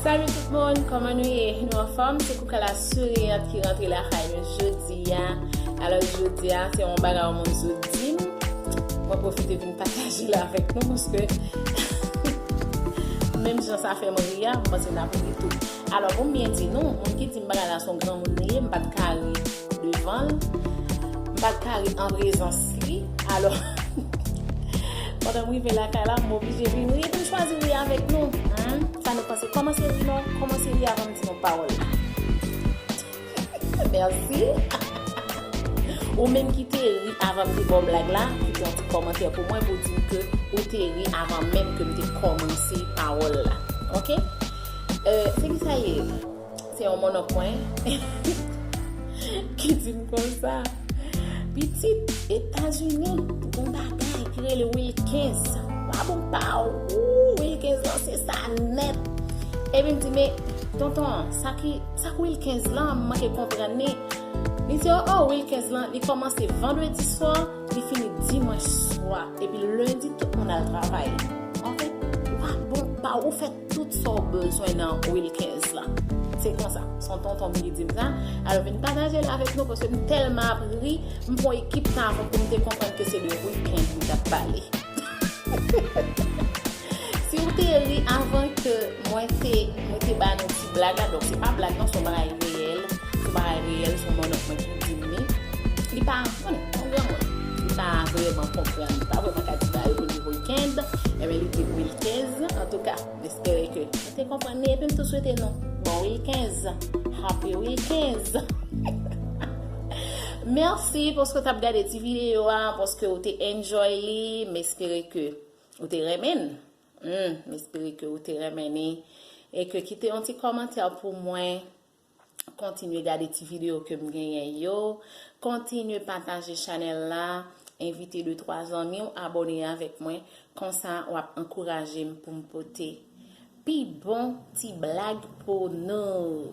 Salut tout moun, koman nou ye? Nou anfòm? Se Koukala Souriant ki rantre la kay nou jodi a. Alò jodi a, se yon bagay ou moun zo di m. Mwen profite vin pataje la avèk nou paske menm jan sa fè m ri a, m panse n ap ri tou. Alò pou m byen di nou, moun ki di m bagay la son granmoun li ye, m pa t ka ri. devan l, m pa t ka ri an prezans li, alò pandan m rive lakay la, m oblije vin ri, m chwazi ri avèk nou, humm, sa nou panse, kòmanse ri non, kòmanse ri avan m di nou pawòl la. Mèsi. Ou menm ki te ri avan m te ba w blag la, kite yon ti kòmantè pou mwen pou w di m ke ou te ri avan menm ke m te kòmanse pawòl la. Ok? Se kisa ye? Se yon mononk mwen ki di m konsa. Pitit, Etazini gen bagay ki rele Wilkens. Wap ou pa ou, Wilkens lan se sa nèt. Epi m di men, tonton, sa ki Wilkens lan, m manke konprann li. Li di, oh oh, Wilkens lan, li kòmanse vandredi swa, li fini dimanch swa. Epi lendi, tout moun al travay. Wap ou pa ou, ou fè. Tout sa w bezwen nan Wilkens la. Se konsa, se yon tonton m ki di m sa. Al vin pataje l avèk nou paske m tèlman ap ri, m pran yon ekip tan avan pou m te konprann ke se de Wilkens li t ap pale. Si w te ri avan ke mwen te mwen te ba nou ti blag la, donk se pa blag non, se yon bagay reyèl, se yon bagay reyèl, se yon mannonk mwen ki di m li. Li pa. Bon, yon granmoun ki pa vreman konprann, li pa vreman ka di bagay pou nivo l kenb, enben li di wilkens. Antouka, m espere ke nou te konprann li epi m tou swete nou bon wilkens. Happy wilkens! Mèsi paske w t ap gade ti videyo a, paske w te enjoy li. M espere ke ou te renmen l. M espere ke ou te renmen li. E ke kite yon ti kòmantè pou mwen. Kontinye gade ti video ke m genyen yo. Kontinye pataje chanèl la. Envite 2 3 zanmi w abone avèk mwen. Konsa w ap ankouraje m pou m pote pi bon ti blag pou nou.